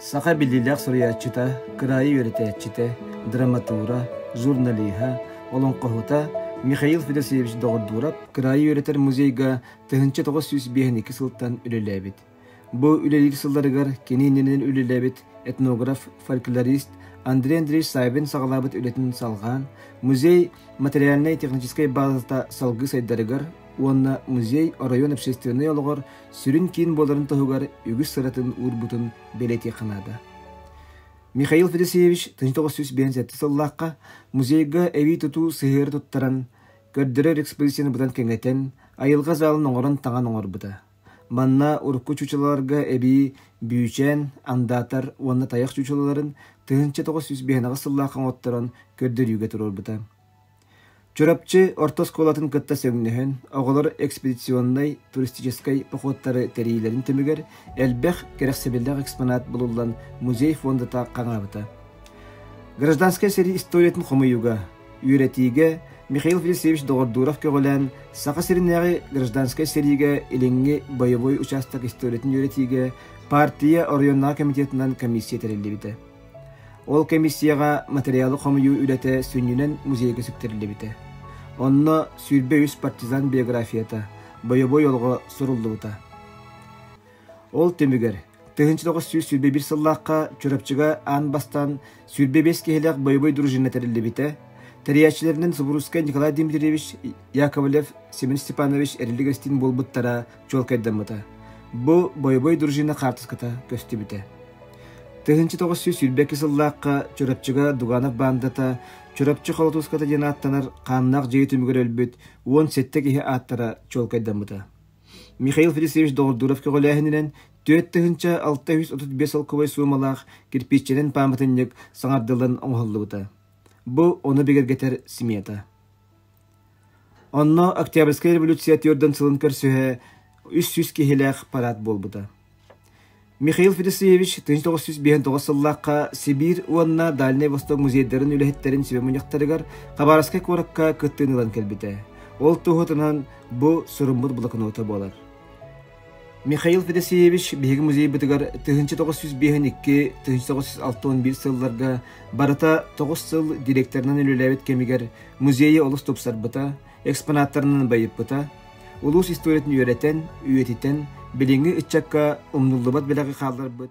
Саха биллиилээх суруйааччыта, кыраайы үөрэтээччитэ, драматура, журналиһа, олоҥхоһута Михаил Федосеевич Доҕордуурап кыраайы үөрэтэр музейга тыһыынча тоҕус сүүс биэһинэки сылтан үлэлээбит. Бу үлэлиир сылларыгар кини иннинэн үлэлээбит этнограф, фольклорист Андрей Андреевич Сайбин саҕалаабыт үлэтин салҕаан, музей материальнай-техническэй баазата салгыы сайдарыгар уонна музей оройуон общественнай олоҕор сүрүн киин буоларын туһугар үгүс сыратын уурбутун бэлэтиэххэ наада. Михаил Федосеевич 1997 сыллаахха музейга эбии тутуу сыһыары туттаран, көрдөрөр экспозицияны быдан кэҥэтэн, айылҕа залын оҥорон таҥан оҥорбута. Манна урукку чучулаларга эбии Бүүчээн, Андаатар уонна тайах чучулаларын тыһыынча тоҕус сүүс биһиэҕэ сыллаахха оҥотторон көрдөрүүгэ туруорбута. Чурапчы орто оскуолатын кытта сөҥнөһөн, оҕолор экспедиционнай туристическай походтары тэрийиилэрин түмүгэр элбэх кэрэхсэбиллээх экспонат булуллан музей фондата хаҥаабыта. Гражданскай сэрии историятын хомуйууга, үөрэтиигэ Михаил Филисевич доҕордууров көҕүлээн Саха сиринээҕи гражданскай сэриигэ илиҥҥи бойобуой учаастак историятын үөрэтиигэ партия оройуоннааҕы комитетынан комиссия тэриллибитэ. Ол кэмиссийэҕэ матырыйаалы хомуйуу үлэтэ сүнньүнэн музейга сүктэриллибитэ. Онно сүүрбэ үс партизан биографията, бойобуой олоҕо суруллубута. Ол түмүгэр тыһыынча тоҕус сүүс сүүрбэ биир сыллаахха Чурапчыга аан бастаан сүүрбэ биэс киһилээх бойобуой дружина тэриллибитэ, тэрийээччилэринэн Субурускай Николай Дмитриевич Яковлев, Семен Степанович эрилик-эрстин буолбуттара чуолкайдаммыта. Бу бойобуой дружина хаартыската көстүбүтэ. 1900 сыллаахха Чурапчыга Дуганов баандата Чурапчы Холотууската диэн ааттанар хааннаах дьиэ түмүгэр өлбүт уон сэттэ киһи ааттара чуолкайдаммыта. Михаил Федосеевич Доҕордууров көҕүлээһининэн түөрт тыһыынча алта үс отут биэс солкуобай суумалаах кирпииччэнэн пааматынньык саҥардылан оҥоһуллубута. Бу ону бигэргэтэр смета. Онно Октябрьскай революция түөрдэн сылын көрсүһэ үс сүүс киһилээх параад буолбута. Михаил Федосеевич тыһыынча тоҕус сүүс биэһинтоҕус сыллаахха Сибиир уонна Дальний Восток музейдарын үлэһиттэрин сүбэ-мунньахтарыгар Хабаровскай куоракка кыттыыны ылан кэлбитэ. Ол туһутунан бу суруммут блокнота буолар Михаил Федосеевич биһиги музейбытыгар тыһыынча тоҕус сүүс биэһинэки тыһыынча тоҕус сүүс алта уон биир сылларга барыта тоҕус сыл директорынан үлэлээбит кэмигэр музейы олус тупсарбыта, экспонаттарынан байыппыта, улуус историятын үөрэтэн, үйэтитэн, билиҥҥи ыччакка умнуллубат бэлэҕи хаалларбыт